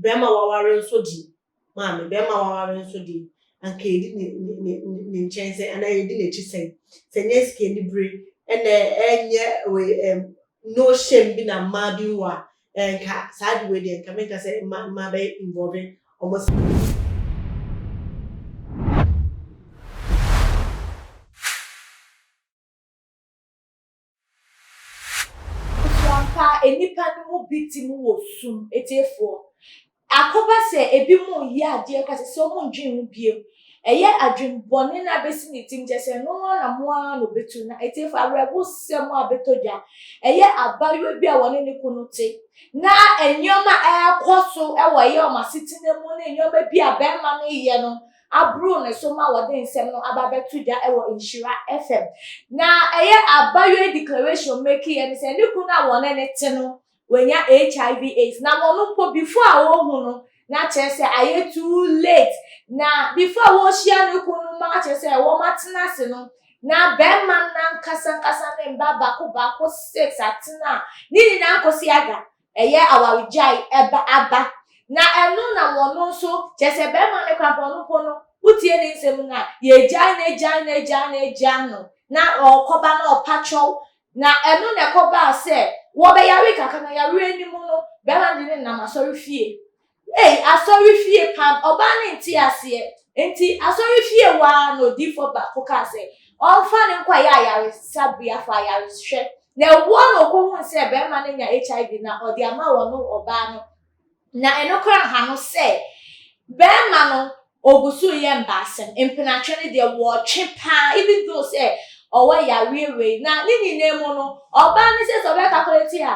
Bɛrima waware nso de, maame, bɛrima waware nso de, anka yɛdi ne, ne, ne, ne nkyɛn sɛn? Anaa yɛdi n'akyi sɛn? Sɛ nyɛ sikanibere na ɛnyɛ wei, ɛm, no shame bi na mmaa bi wɔ a, ɛɛ, nka saa ade wei deɛ, nka menka sɛ mma, mmaa bɛyɛ involve wɔn sɛ. So ampa nnipa no mu bi te mu wɔ sum? Atiefoɔ, akɔba sɛ ebinom reyɛ adeɛ kora te sɛ wɔnndwen ho bio. Ɛyɛ adwene bɔne na abɛsi ne tirim kyerɛ sɛ ɛno ara na mo ara na ɔbɛtu. Na atiefoɔ, awerɛhosɛm a abɛtɔ dwa, ɛyɛ abaayewa bi a wɔne ne kunu te, na nneɛma a ɛrekɔ so wɔ ɛyɛ wɔn asetena mu ne nneɛma bi a barima no reyɛ no aboro ne so ma wɔde nsɛm no aba abɛto dwa wɔ Nhyira FM. Na ɛyɛ abayɔɛ declaration making yɛ ne sɛ ne kunu a wɔne ne te no wanya HIV AIDS. Na wɔn mpo before a wɔhu no na kyerɛ sɛ ayɛ too late. Na before a wɔhyia ne kunu no ma kyerɛ sɛ wɔn atena ase no na bɛrima no nankasa nkasa ne mba baako baako six atena ne nyinaa nkosi aga. Ɛyɛ awaregyae ɛba aba. Na ɛno na wɔno nso, kyerɛ sɛ bɛrima no kora bɔno mpo no, wotie ne nsɛm no a, yɛgyae no, gyae no, gyae no, gyae no, na ɔɔkɔba na ɔpa kyɛw. Na ɛno na ɛkɔbaa sɛ wɔbɛyaree kakra, na yareɛ no mu no, bɛrima no de no nam asɔrefie. Ei, asɔrefie pam! Ɔbaa no nte aseɛ. Enti asɔrefie hɔ ara na odiyifoɔ baako kaa sɛ ɔmfa no nkɔyɛ ayaresabea for ayarehwɛ. Na ɛwoɔ na ɔkɔhuu sɛ barima no anya HIV na ɔde ama wɔn ɔbaa no. Na ɛno koraa anha no sɛ barima no Ogusu yɛ mbaasɛm, mpenatwe no deɛ wɔɔtwe paa even though sɛ ɔwɔ yareɛ wei na ne nyinaa mu no ɔbaa no sɛ sɛ ɔbɛ calculate a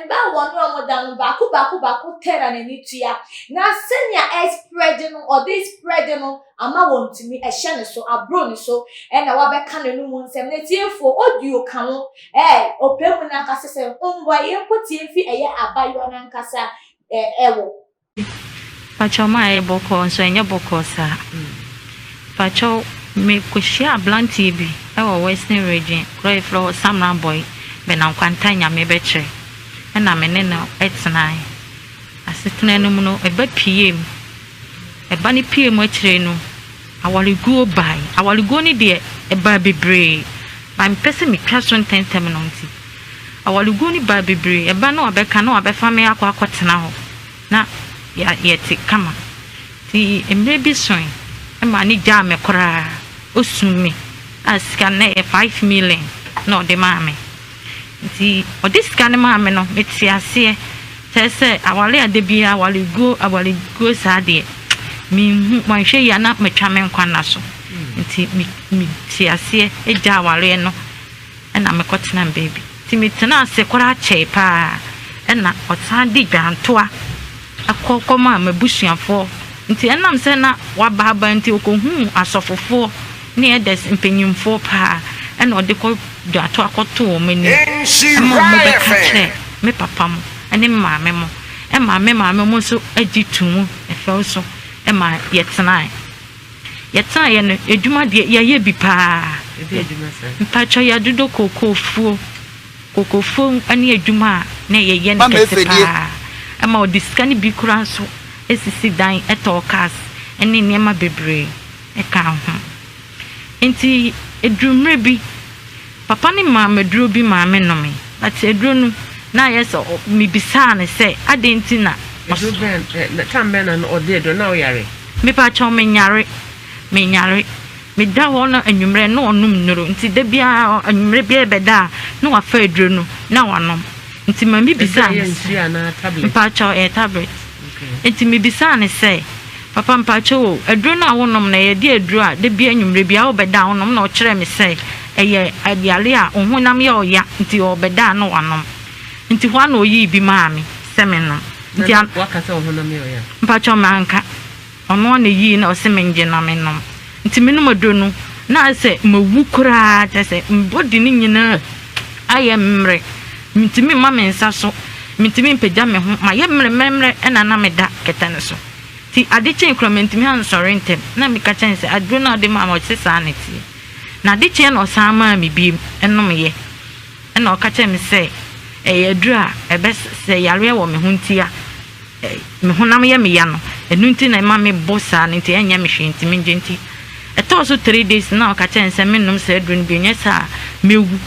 mba a wɔne ɔmo da no baako baako baako pɛ na n'ani tua na sɛnea ɛɛsprɛde no ɔde sprɛde no ama wɔntumi ɛhyɛ ne so aboro ne so ɛna wabɛka n'anomu nsɛm na atiefoɔ audio ka ho ɛɛ ɔpɛ mu no ankasa sɛ hombɔ yɛnkɔ tie mfi ɛyɛ abayewa no ankasa ɛɛ ɛwɔ Pakyɛw ma ɛyɛ bɔkɔɔ nso ɛnyɛ bɔkɔɔ saa. Pakyɛw me kɔ hyia abranteɛ bi ɛwɔ western region kuro a yɛfrɛ hɔ Samran Boy Bɛnam Kwanta Nyame bɛ kyerɛ ɛna me ne no ɛtenae asetena no mu no ɛba pie mu ɛba no pie mu akyire no Awareguo bae. Awareguo no deɛ, ɛbaa bebree. But mepɛ sɛ metwa so ntɛntɛm no nti, awareguo no baa bebree. Ɛba na wɔabɛka na wɔabɛfa me akɔ akɔtena hɔ, na yɛte kama. Nti mmerɛ bi soe, ɛmaa no gyaa me koraa. Ɔsum me a sika no na ɛyɛ five million na ɔde maa me. Nti ɔde sika no maa me no, metee aseɛ. Kyerɛ sɛ, aware a da biara awareguo, awareguo saa deɛ, menhu, manhwɛ yie a na matwa me nkwa nna so. Nti me, metee aseɛ gyaa awareɛ no, ɛna mekɔtenaa me baabi. Nti metenaa ase koraa kyɛe pa ara, ɛna ɔsan de dwantoa. Akɔ kɔmaa m'abusuafoɔ, nti ɛnam sɛ na waba aba nti ɔkɔhuu asɔfofoɔ ne elders mpanimfoɔ paa ɛna ɔde kɔ dwaato akɔtoo wɔn anim ma wɔn bɛka kyerɛɛ me papa mo ne me maame mo ɛmaa me maame mo nso gye too mu fɛw so ɛmaa yɛtenaeɛ. Yɛtenaeɛ no adwuma deɛ yɛayɛ bi paa, mpakyɛ yɛadodɔ kookoofuo, Kokofuom ne adwuma a na yɛyɛ no kɛse paa. Ɛma ɔde sika no bi koraa nso sisi dan, tɔɔ cars ne nneɛma bebree kaa ho. Enti eduu mmerɛ bi, Papa no maa me aduro bi maa me nomee. But aduro no, na ayɛ sɛ mebisaa no sɛ adɛn nti na ɔs. Aduro bɛn, time bɛn na ɔde aduro, na woyare? Mepa kyɛw, menyare, menyare. Meda hɔ na anwummerɛ na ɔnom nnuro nti da biara anwummerɛ biara bɛda a na wafa aduro no na wanom nti ma me bisaa no sɛ mpakyɛw ɛyɛ tablet nti me bisaa no sɛ papa mpakyɛw o aduro no a wonom no ɛyɛ de aduro a da biara anwummerɛ biara ɔbɛda a wonom na ɔkyerɛ me sɛ ɛyɛ yare a ɔhonam yɛ ɔya nti ɔbɛda a na wanom nti hɔ a na ɔyii bi maa me sɛ menom nti a mpakyɛw manka Ɔnoa na eyii na ɔse mengye na menom nti menom aduro no na ayɛ sɛ mawu koraa kyerɛ sɛ me body no nyinaa ayɛ mmerɛ mentumi mma me nsa so mentumi mpagya me ho mayɛ mmerɛmmerɛmmerɛ ɛna na meda kɛtɛ no so nti ade kyee koraa mantumi ansɔre ntɛm na meka kyerɛ no sɛ aduro no a wode maa me ɔse saa na ɛteɛ na ade kyeeɛ na ɔsan maa me biem ɛnomeeɛ ɛna ɔka kyerɛɛ me sɛ ɛyɛ aduro a ɛbɛsɛ yareɛ wɔ me ho ntia me honam yɛ me ya no ɛno nti na ɛma me bo saa no nti ɛnyɛ me hwee nti me ngye nti ɛtɔɔ so three days na ɔka kyerɛ me sɛ me nom saa aduro no bio nyɛ saa me wu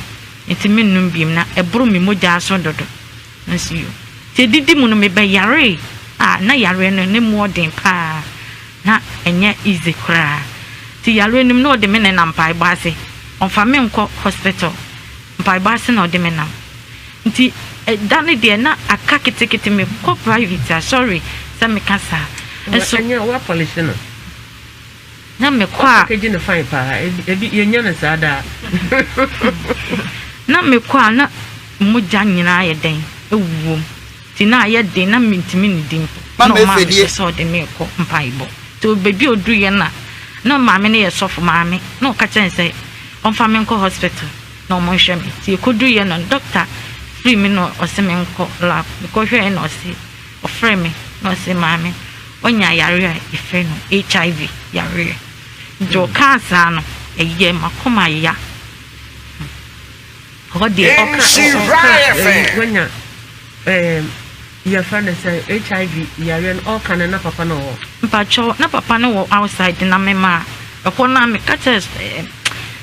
nti me nom biem na ɛboro me mogyaa so dodo na si yo nti ɛdidi mu no me bɛ yaree a na yareɛ no ne mu ɔden paa na ɛnyɛ easy koraa nti yareɛ no mu na ɔde me ne nam mpaebɔ ase ɔmfa me nkɔ hospital mpaebɔ ase na ɔde me nam Nti da no deɛ na aka ketekete me kɔ private a sorry sɛ me ka saa nso. Ɛnyɛ wa polish no. Na me kɔ a. Wa package no fine paa ebi yɛ nya no saa daa. Na me kɔ a na mogya nyinaa ayɛ dɛn ɛwuwɔ mu nti na ayɛ den na me ntumi nnidi mpo na ɔmaa me hyɛ sɛ ɔde me rekɔ mpaebɔ nti ɔbɛdua ɔduru yɛ na na maame no yɛ sɔfo maame na ɔka kyerɛ no sɛ ɔmfa me nkɔ hospital. na ɔmo nhwɛ me nti ekodu yɛ no dɔkta fri me na ɔse me nkɔ lab mekɔ hwɛɛ na ɔse ɔfrɛ me na ɔse maame wanya yare a yɛfrɛ no HIV yareɛ nti ɔkaa saa no ɛyɛɛ makoma ya hɔ deɛ. Ɔka ɔka wanya ɛɛm. Yɛfrɛ no sɛ HIV yareɛ no ɔɔka no na papa no wɔ hɔ. Mpakyɛw na papa no wɔ outside na me maa ɛhɔ no a me ka kyerɛ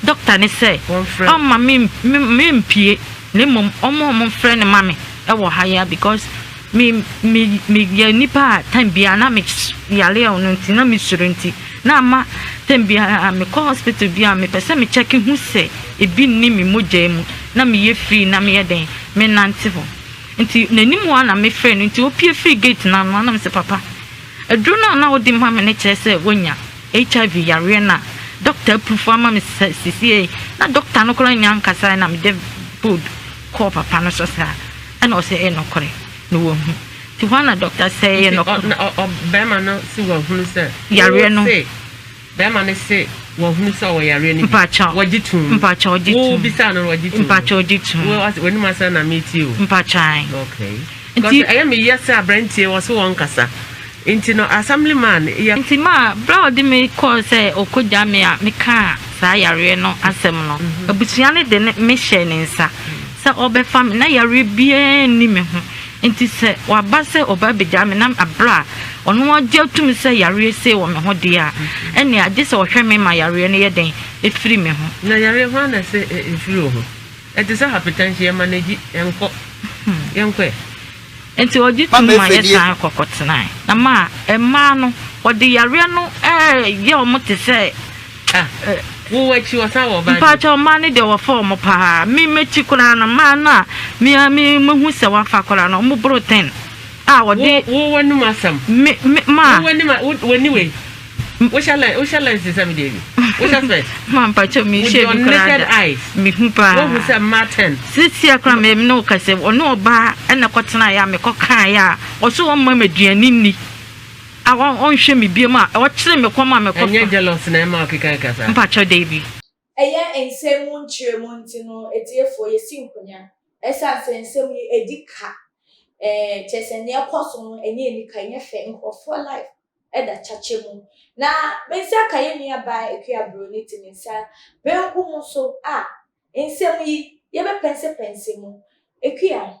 doctor no sɛ ɔmma me me mpue na mmom ɔmma ɔmo mfrɛ no ma me ɛwɔ ha yi ara because me me me yɛ nipa a time biara na me yare a ɔno nti na me suro nti na ama time biara me kɔ hospital biara me pɛ sɛ me check hu sɛ ebi nni me mogya mu na me yɛ free na me yɛ dɛn me nante hɔ Nti n'anim hɔ ara na mefrɛɛ no, nti ɔpue firii gate no ano ara na mese, Papa, aduro no a na wode ma me no kyerɛ sɛ woanya HIV yareɛ no a dɔkta apurufu ama me sesiei yi, na dɔkta no koraa nnya nkasaeɛ na mede bold kɔɔ papa no so saa, ɛna ɔse ɛyɛ nokorɛ na wahu. Nti hɔ ara na dɔkta sɛ ɛyɛ nokorɛ. Nti ɔbarima no se wahunu sɛ wose. Yareɛ no. Bɛɛma no se wahunu sɛ ɔwɔ yareɛ no bi. Wɔgye toom. Wo bisaa no no wɔgye toom. Mpakyɛ ɔgye toom. Wo ɔse w'anim asɛm na metie o. Mpakyɛ ae. Okay. Because ɛyɛ me yɛ sɛ abrantie wɔse wɔnkasa. Nti no assembly man yɛ. Nti ma berɛ a ɔde me kɔɔ sɛ ɔkɔ gya me a me kaa saa yareɛ no asɛm no. Abusua no de me hyɛɛ ne nsa sɛ ɔbɛfa me na yareɛ biara nni me ho. Enti sɛ waba sɛ ɔba abegyaa me na aberɛ a ɔno agye atum sɛ yareɛ sei wɔ me ho deɛ a, ɛnneɛ agye sɛ ɔhwɛ me ma yareɛ no yɛ dɛn? Ɛfiri me ho. Na yareɛ hwan na ɛsɛ ɛfiri wo ho? Ɛte sɛ hapetɛnhye, yɛmanegyi, yɛnkɔ, yɛnkɔ ɛ. Enti ɔgye tum ma yɛsan kɔ kɔtenae. Na ma mmaa no, wɔde yareɛ no yɛ wɔn te sɛ. Mpakyɛw mmaa no deɛ wɔfa wɔn paa me m'akyi koraa no mmaa no a me a me mahu sɛ wɔafa koraa no wɔn boro ten a wɔde wo w'anim asɛm me me maa w'anim w'ani wei wohyɛ lɛ wohyɛ lɛ nsesa mi deɛ bi wohyɛ fɛ maa mpakyɛw mi hyɛ bi koraa da me hu paa wɔhu sɛ mmaa ten sisi akora me ne wo kɛse ɔne ɔbaa ɛna kɔtena yɛ a mekɔ kaa yɛ a ɔso wɔn mma me aduane ni A ɔn ɔnhwɛ me biom a. Ɔkyere me kɔm a me kɔ fa. Ɛnyɛ jealous na ɛma ɔkeka keka saa. Mpakyɛw Dabi. Ɛyɛ nsɛm mu nkyerɛmu nti no atiefoɔ yɛsi nkonya ɛsiane sɛ nsɛm yi ɛdi ka ɛɛ kyerɛ sɛ nea ɛkɔ so no ɛnyɛ anika ɛnyɛ fɛ nkorɔfoɔ life ɛda kyakyɛ mu na me nsa ka yɛn nua baa Akua Broni te me nsa benkum so a nsɛm yi yɛbɛpɛnsɛpɛnsɛ mu Akua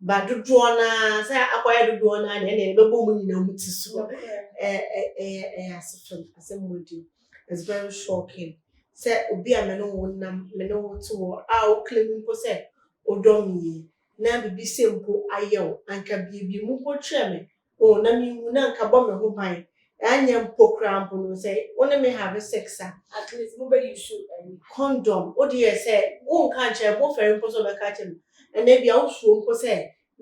ba dodoɔ no ara sɛ akɔyɛ dodoɔ no ara na ɛna ɛna ɛbɛbɔ mu nyinaa mu ti so ɛyɛ ɛyɛ asefam asɛm mu di it's very shocking sɛ obi a me ne wo nam me ne wo te wɔ a wo claim mpo sɛ odɔ me yie na biribi sɛ mpo ayɛ wo anka biribi mu mpo kyerɛ me O, na minwu na anka bɔ me ho ban, annyɛ mpo koraa mpo no, sɛ wo ne me have sex a. At least mo bɛ use ɛyi. Condom, wo deɛ sɛ wo nka ankyerɛ me, wo fɛre mpo sɛ ɔbɛka akyerɛ me, ɛna ebia wo suro mpo sɛ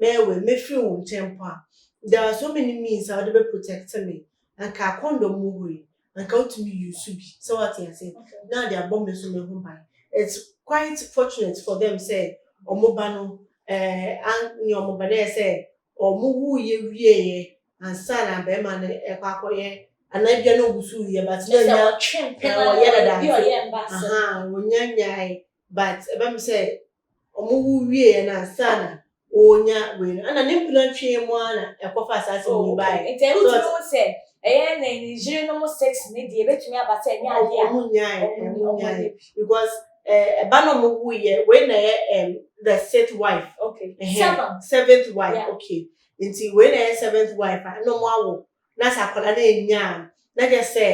mɛyɛ wei, mɛfiri wo nkyɛn mpo a, there are so many means a wo de bɛ protect me, anka condom wɔ hɔ yi, anka wotumi use bi sɛ wate ase na ade abɔ me so me ho ban it's quite fortunate for them sɛ ɔmo ba no eh, an ne ɔmo ba no yɛ sɛ ɔmo wuu yɛ wieɛ ansa na bɛrima no ɛkɔ akɔyɛ anaa bia na ɔwusu yɛ but na nya ɔyɛ dada nti wɔnya nyae but ɛbɛm sɛ Ɔmo wo wieɛ no ansa na ɔnya wei no ɛna ne mpena twee mu ara na ɛkɔfa asaase mu yi baeɛ. Oh okay, nti ɛno nti wohu sɛ ɛyɛ ne yere nom sex no deɛ ɛbɛtumi aba sɛ ɛnyɛ adeɛ a ɔmo nyaeɛ, ɔmo nyaeɛ because eh, ɛba na ɔmo wuiɛ, wei na ɛyɛ um, the sixth wife, okay, seventh, seventh wife, yeah. okay, nti wei na ɛyɛ seventh wife a ɛna ɔmo awo Na sɛ akwadaa no annya a, na kyerɛ sɛ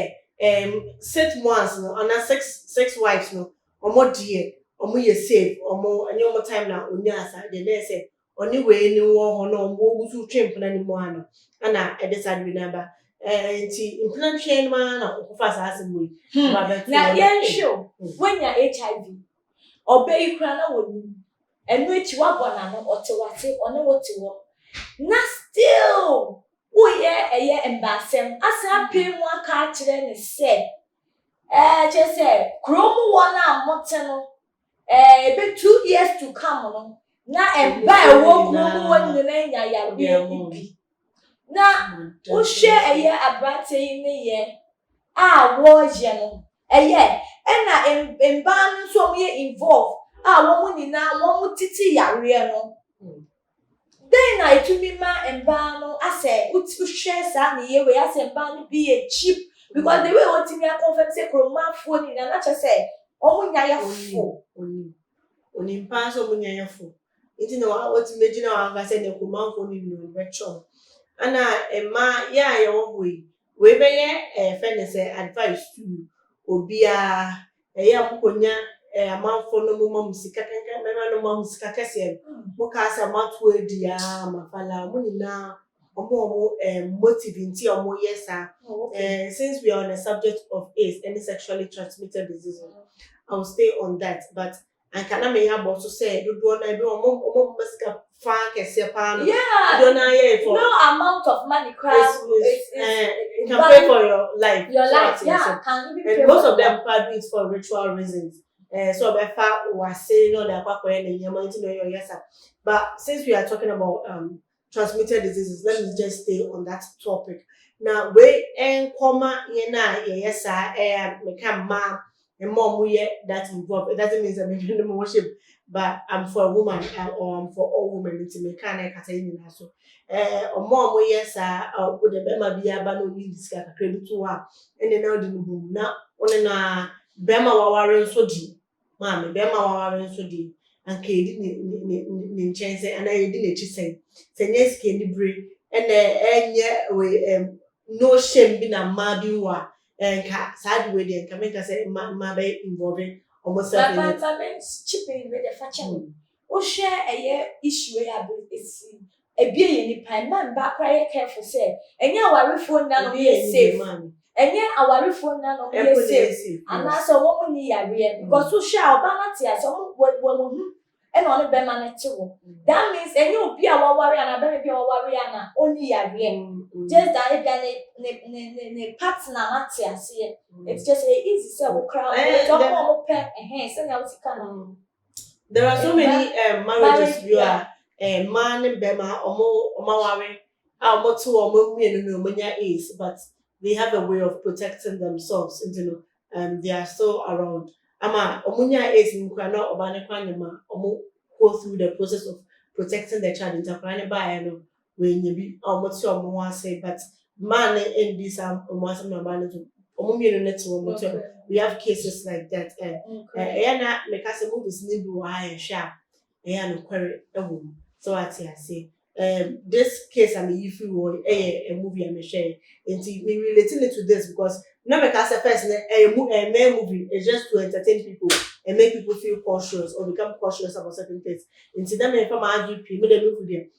ɛɛm six mothers no anaa six six wives no, wɔn deɛ wɔn yɛ safe, wɔn ɛnyɛ wɔn time na onyaa saa deɛ na yɛ sɛ ɔne wei no wɔ hɔ na wɔn wɔgu so retwe mpena no mu ara no ɛna ɛde saa deɛ no aba. Ɛɛ nti mpena twɛn no ara na ɔkɔfa saa asɛm wei Hmm. ɔba bɛto Na hɔ na yɛnhwɛ o, hmm. wanya HIV, ɔbɛ yi koraa na wɔnim. Ɛno akyi wabɔ n'ano, ɔte w'ase, ɔne wo te hɔ, na still woyɛ ɛyɛ mbaasɛm asan apae mu aka akyerɛ no sɛ, ɛɛ, kyerɛ sɛ kurow mu wɔn a mote no, ɛɛ, ɛbɛ two years to come no, na mba a ɛwɔ kurow mu hɔ nyinaa anya yareɛ no bi. Na wohwɛ ɛyɛ aberanteɛ yi ne yɛ a wɔyɛ no ɛyɛ ɛna mbaa no nso wɔn yɛ involve a wɔn nyinaa wɔn titi yareɛ no dɛn na etumi ma mbaa no asɛ wohwɛ saa ne yɛ wei asɛ mbaa no bi yɛ cheap because the way wɔtumi akɔnfɛm sɛ kuromanfoɔ nyinaa na kyɛ sɛ wɔn nya yɛ fo. Onimpa nso wɔn nya yɛ fo. Ntsi na otum begyina hɔ anka sɛ Nekumanfoɔ no nyina ɔbɛkyerɛ wo. Ana mma yɛ a yɛwɔ hɔ yi, wei bɛyɛ eh yɛfrɛ no sɛ advice to you, obiara, ɛyɛ a mokonya eh amanfoɔ no moma mo sika kɛkɛ, mɛma no mma mo sika kɛseɛ no, mokaa sɛ moato adi aa mafala, ɔmo nyinaa ɔmo ɔmo eh motive nti a ɔmo yɛ saa. Eh since we are on the subject of AIDS ɛne sexually transmitted disease no, I will stay on that but Anka na meyɛ abɔ so sɛ dodoɔ naa bi wɔn wɔn ma sika fa kɛseɛ paa no. Yeah. Dodoɔ naa yɛ for. No amount of money koraa. It's, it's, it's, it's, uh, it can pay for your life. Your life, yeah. So, can even pay and most of them pa do it for ritual reasons. Uh, so ɔbɛfa wase na ɔde akɔ akɔyɛ ne nneɛma nti na ɔyɛ ɔyɛ sa. But since we are talking about um, transmitted diseases, let me just stay on that topic. Na wei nkɔma yɛn a yɛyɛ saa ɛyɛ eh, meka mmaa mma ɔmo yɛ that involved. It doesn't mean that mede no worship, but I'm for a woman uh, or I'm for all women. Nti meka na ɛkasa yi nyinaa so. Ɛɛ ɔmo a ɔmo yɛ saa a ɔmo de bɛrima bi aba na ɔmo yi sika kakra bi to hɔ a ɛna na ɔde no bom na ɔne na bɛrima waware nso di. maame, bɛrima a waware nso deɛ, anka yɛdi ne, ne, ne, ne nkyɛn sɛn anaa yɛdi n'akyi sɛn. Sɛ nyɛ sika anibere ɛna ɛnyɛ wei ɛm no shame bi na mmaa bi wɔ a, ɛnka saa ade wei deɛ nka menka sɛ mmaa mmaa bɛyɛ involve wɔn self in it. But but but chipping wei deɛ fa kyɛ me. Wohwɛ ɛyɛ issue wei a but it's ebie yɛ nipa ɛma mbaa koraa yɛ careful sɛ ɛnyɛ awarefoɔ nyinaa na ɔmo yɛ safe ɛnyɛ awarefoɔ nyinaa na ɔmo yɛ safe anaasɛ ɔmo ɔmo nni yareɛ because wohwɛ a ɔbaa no ate ase ɔmo wɔ wɔ wɔn ho ɛna ɔne bɛma no te hɔ that means ɛnyɛ obi a waware anaa bɛma bi a waware a na ɔnni yareɛ just that ebia ne ne ne ne ne partner no ate aseɛ it's just ɛyɛ easy sɛ wo koraa ɔmo ɔmo pɛ ɛhɛn sɛnea wosi ka no There are so many um, marriages bi a eh, mmaa ne bɛrima ɔmo ɔmo aware a ɔmo te wɔ ɔmo mmienu na ɔmo nya AIDS but they have a way of protecting themselves nti no um, they are still around ama ɔmo nya AIDS no kora na ɔbaa ne kora nyɛ ma ɔmo go through the process of protecting the child nti akwadaa ne baayɛ no W'anya bi a ɔmo te ɔmo ho ase but maa no ɛndi saa ɔmo asɛm na ɔbaa no to ɔmo mmienu no te ɔmo to we have cases like that and ɛyɛ na meka sɛ movies no bi wɔ ha yɛhwɛ a ɛyɛ a nokware ɛwɔ mu sɛ wate ase um, this case a meyi firi wɔ ɛyɛ a movie a mehwɛ nti me relating it to this because na meka sɛ first no ɛyɛ mu ɛmɛ movie it's just to entertain people and make people feel cautious or become cautious about certain things nti na mefa ma adwe pii me dɛ mehu deɛ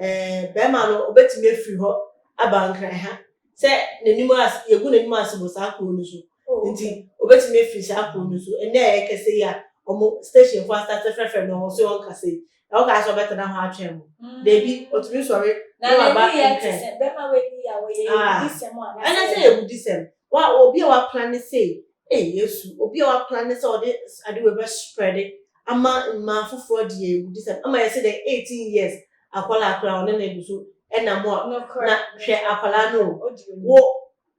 Ɛɛ, barima no, obetumi afiri hɔ aba Nkran ha, sɛ n'anim ase, yegu n'anim ase wɔ saa kurow no so. Oh, Nti, okay. obetumi afiri saa kurow no so. Ɛnnɛ a yɛkasa yi a, wɔn station fo asate frɛfrɛ no, wɔn se wɔnkasa yi. Na wɔkaa sɛ wɔbɛtena hɔ atwɛn mo. Mm. Dabi, otumi sɔre na waba Nkran. Na n'ani yɛ te sɛ, bɛma w'ani yɛ a wɔyɛ ah. ewudisɛm a. Ɛnyɛ sɛ ewudisɛm. Wo a obi a w'aplane sei, ei Yesu, obi a w'aplane sɛ ɔde ade wei bɛ spread ama mmaa foforɔ deɛ egu di sɛm, ama yɛse dɛn eighteen years akwadaa koraa ɔne no egu so ɛnam hɔ, na hwɛ akwadaa no o, wo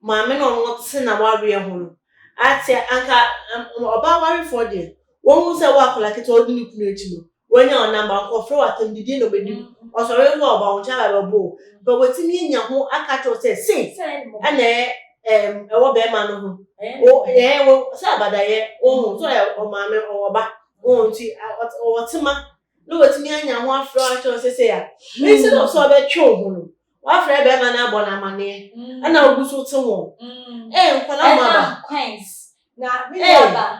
maame na ɔno te na wareɛ ho no, ateɛ anka ɔbaa warefoɔ deɛ, wɔn hu sɛ wo akwadaa ketewa odi ne kunu akyi no, Woenya wo number, nkɔfrɛ wo atamdidie na ɔbɛdi mu. Ɔsɔre nso a, ɔba wo nkyɛn a bɛbɔ wo. But watumi anya ho aka akyerɛ wo sɛ sei ɛna ɛm ɛwɔ bɛɛma no ho. Wo ɛɛ wo sɛ abadayɛ wohu so ɛ ɔmaame ɔwɔ ba wohu nti ɔt ɔwɔ tema na watumi anya ho afrɛ wo akyerɛ wo sɛ sei a. Instead of sɛ ɔbɛtwe wo ho no wafrɛ bɛɛma no abɔ no amaneɛ ɛna wogu so te wɔn. Ɛɛ nkwadaa mmoaba. Ɛnam kwanz na me nuaba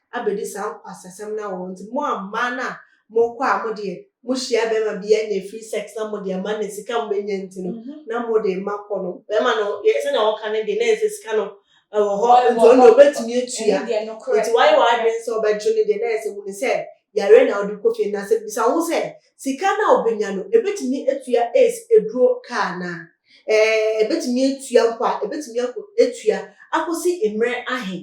abɛdi saa nkwasasɛm no awɔ nti mo a mmaa no a mo kɔ a mo deɛ mo hyia bɛrima bi a nyɛ free sex na mo deɛ ama ne sika mo bɛnya nti no mhm. na mo deɛ ma kɔ no bɛrima no yɛ sɛnea wɔka no deɛ na yɛ sɛ sika no ɛwɔ hɔ nti ɔno deɛ ɔbɛtumi atua nti wayɛ w'adwene sɛ ɔbɛgye no deɛ na yɛ sɛ wuni sɛ yare na ɔde kɔ fie na sɛ bisa ho sɛ sika no a ɔbɛnya no ɛbɛtumi atua ace aduro kaa no ɛbɛtumi atua mpo a ɛbɛtumi atua akɔsi mmerɛ ahe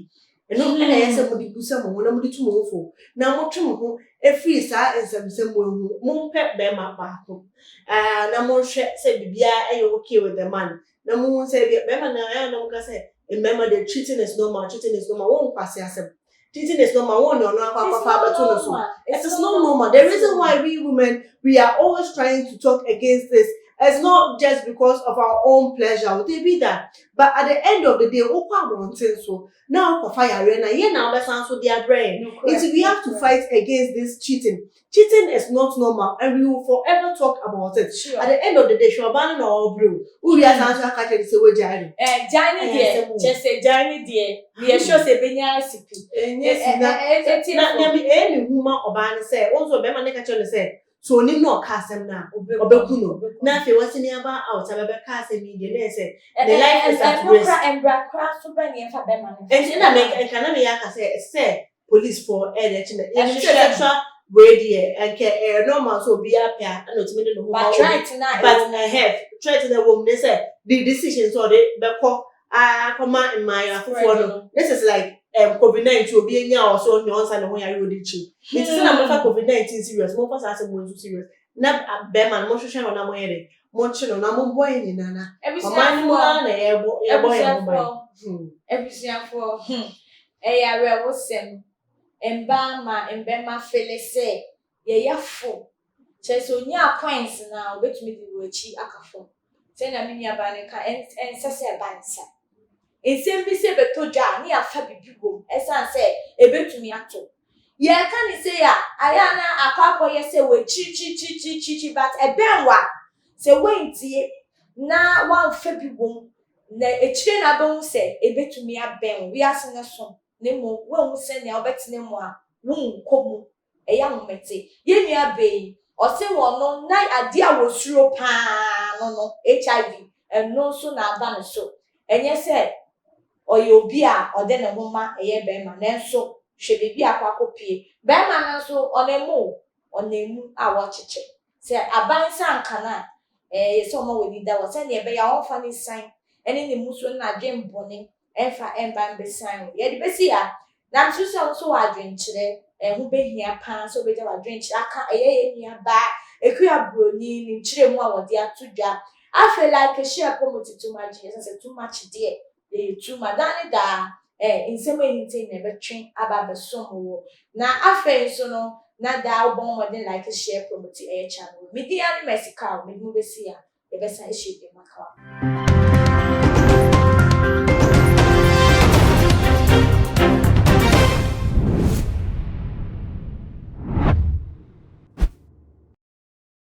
Ɛno na ɛyɛ sɛ mode busa mo ho na mode tu mo ho fo, na motwe mo ho firi saa nsɛmnsɛm mu ahu. Mompɛ barima baako na monhwɛ sɛ biribiara yɛ okay with the man, na mohu sɛ ebia barima no a na moka sɛ mmarima deɛ cheating is normal, cheating is normal, wɔn nkwasi asɛm. Cheating is normal, wɔn na ɔno akɔ akɔfa abɛto no so. It is not normal. The reason why we women we are always trying to talk against this is not just because of our own pleasure, dabi da. But at the end of the day wokɔ abɔnten so na wokɔfa yareɛ no a yɛn na wobɛsan so de abrɛ yɛn. Nti we have to fight against this cheating. Cheating is not normal and we will forever talk about it. Sure. At the end of the day hwɛ ɔbaa no na ɔrebrɛ o. Wowie a san nso aka kyerɛ no sɛ wagyae no. Eh, gyae no Ɛyɛ deɛ, asɛm o. kyerɛ sɛ gyae no deɛ, meyɛ sure sɛ ɛbɛnya asipi. Ɛnyɛ Ɛ- ɛ- sika. ɛ- ɛ- ɛteɛ Na fam. nea me ɛyɛ me hu ma ɔbaa no sɛ, wo nso bɛrima no ka kyerɛ no sɛ, So onim na ɔka asɛm no a ɔbɛku no na afei wɔ senior bar out a bɛbɛka asɛm yi deɛ na ɛsɛ ne life is at risk. Ɛno kora mbra kora so bɛ ne ɛfa bɛma no. Ɛnti na mɛ nka na meyɛ aka sɛ sɛ police fɔ ɛna ɛkyi na yɛnim sɛ sexual wei deɛ ɛnkɛ ɛyɛ normal so obi apɛ a ɛna otumi de ne ho ma obi but ɛhɛ threat na ɛwɔ mu ne sɛ the decision sɛ ɔde bɛkɔ akɔma mmaayɛ afoforɔ no this is like um, covid nineteen obi anya a ɔsɛ ɔnya ɔnsa ne ho yare ɔde kyi nti sɛ na mofa covid nineteen serious momfa saa asɛm wɔn nso serious na bɛrima no mohwehwɛ no na moyɛ dɛ monkye no na mombɔ yɛ nyinaa na ɔman no mu ara na yɛbɔ yɛbɔ yɛn ho ban abusuafoɔ ɛyɛ awerɛhosɛm mmaa ma mbɛma fele sɛ yɛyɛfo, kyerɛ sɛ onyaa points no a, obetumi de wo akyi aka fam. Sɛnea me nuabaa no ka, ɛnsɛ sɛ ɛba ne saa. Nsɛm bi sɛ bɛtɔ dwa a, na yɛafa biribi wom esiane sɛ ebetumi atɔ. Yɛreka no sei a, ayɛ a na akɔ akɔyɛ sɛ wɔakyirikyirikyirikyirikyiri, but ɛbɛn wo a, sɛ woantie na woamfa bi wom na akyire na abɛhu sɛ ebetumi abɛn wo. Wiase no so, na mmom woanhu sɛnea wobɛtena mu a worenkɔ mu Ɛyɛ ahomete. Yɛn nua bɛɛ yi, ɔse wɔn no na adeɛ a wɔsuro paa no no, HIV, ɛno nso na aba ne so. Ɛnyɛ sɛ ɔyɛ obi a ɔde ne ho ma ɛyɛ bɛɛma, nanso hwɛ baabi a akɔ akɔpue. Bɛɛma no nso ɔnam mu o, ɔnam mu a wɔkyekyɛ. Sɛ aban sɛ anka no a, ɛyɛ sɛ ɔma w'ani da hɔ sɛnea ɛbɛyɛ a ɔremfa ne sian ne ne mmusuo ne n'adwene bɔne mfa mma mbɛsian wo. Yɛde bɛsi ha, na mesusu sɛ wo nso w'adwenkyerɛ ɛho bɛhia pa ara sɛ wobɛgya w'adwenkyerɛ aka ɛyɛ yɛn nuabaa Akua Broni ne nkyerɛmu a wɔde ato dwa. Afei like, share, promote, too much, ɛsɛ sɛ too much deɛ Eyi tu ma daa ne daa ɛ nsɛm a ehinta nyinaa bɛtwe aba abɛsom wo. Na afei nso no, na daa wobɔ mmɔden like, share, promote ɛyɛ channel wei. Me din ara ne Mercy Kaw, mede mo besi ha, yɛbɛsan ahyia bio ma kawa ho.